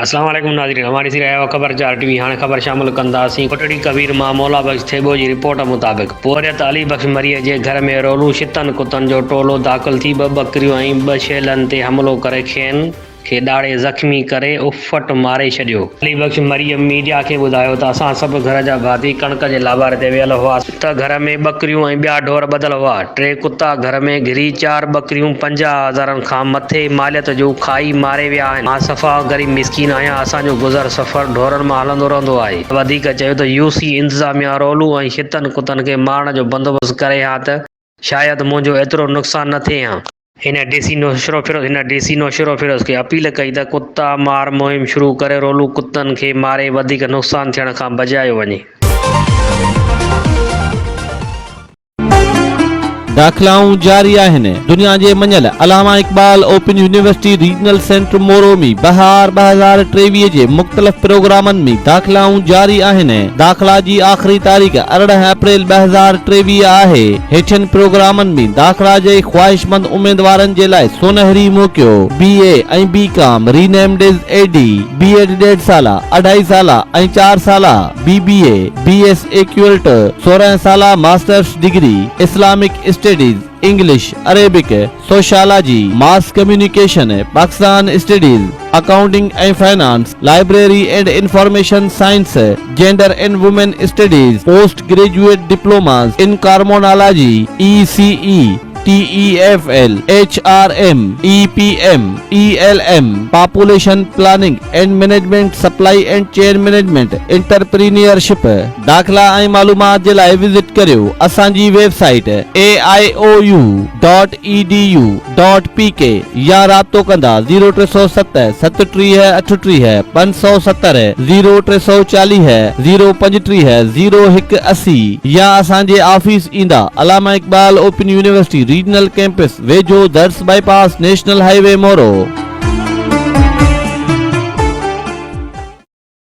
اسلام عليڪم ناظرين اوهان ڏسي رهيا آهيو خبر چار ٽي وي هاڻي خبر شامل ڪنداسين ڪوٽڙي ڪبير مان مولا بخش ٿيٻو جي رپورٽ مطابق پورهيت علي بخش مريء جي گهر ۾ رولون شتن ڪتن جو ٽولو داخل ٿي ٻه ٻڪريون ۽ ٻه شيلن تي حملو ڪري کين کي ڏاڙهي زخمي ڪري اف ڦٽ ماري ڇڏيو. علي بخش مريم ميڊيا کي ٻڌايو ته اسان سڀ گهر جا ڀاتي ڪڻڪ جي لاباري تي ويل هئاس ته گهر ۾ ٻڪريون ۽ ٻيا ڍور ٻڌل هئا، ٽي ڪتا گهر ۾ گهري چار ٻڪريون پنجاهه هزارن کان مٿي ماليت جون کائي ماري ويا آهن، مان صفا غريب مسڪين آهيان، اسان جو گذر سفر ڍورن مان هلندو رهندو آهي، وڌيڪ چيو ته يو سي انتظاميا رولون ۽ ڇتن ڪتن کي مارڻ جو بندوبست ڪري ها ته. شايد منهنجو ايترو نقصان نه ٿئي هان. هن ڊي سي نوشهروفيروز هن ڊي سي نوشهروفيروز کي اپيل ڪئي ته ڪتا مار مهم شروع ڪري رولو ڪتن کي ماري وڌيڪ نقصان ٿيڻ کان بجايو وڃي. داخلائون جاري آهن، دنيا جي مڃيل Allama Iqbal Open University regional centre Moro ۾ بهار ٻه هزار ٽيويهه جي مختلف پروگرامن ۾ داخلائون جاري آهن، داخلا جي آخري تاريخ ارڙهن اپريل ٻه هزار ٽيويهه آهي، هيٺين پروگرامن ۾ داخلا جي خواهشمند اميدوارن جي لاء سونهري موقعو، بي اي ۽ بي ڪام، ري نيمڊيز اي ڊي، بي ايڊ ڏيڍ سالا، اڍائي سالا ۽ چار سالا، بي بي اي، بي ايس اي ڪيولٽ، سورهن سالا masters degree, Islamic studies, English, Arabic, sociology, mass communication, Pakistan studies, accounting ۽ finance, library and information science, gender and women studies, post graduate diplomas in criminology, A C A, T E F L, H R M, A P M, A L M, population planning and management, supply and chain management, entrepreneurship. داخلا ۽ معلومات جي لاء visit ڪريو اسان جي web site aaiou dot edu dot pk يا رابطو ڪندا زيرو ٽي سؤ ست ست ٽيهه اٺٽيهه پنج سؤ ستر زيرو ٽي سؤ چاليهه زيرو پنجٽيهه زيرو هڪ اسي يا اسان جي آفيس ايندا Allama Iqbal Open University regional campus ويجهو درس bypass national highway Moro.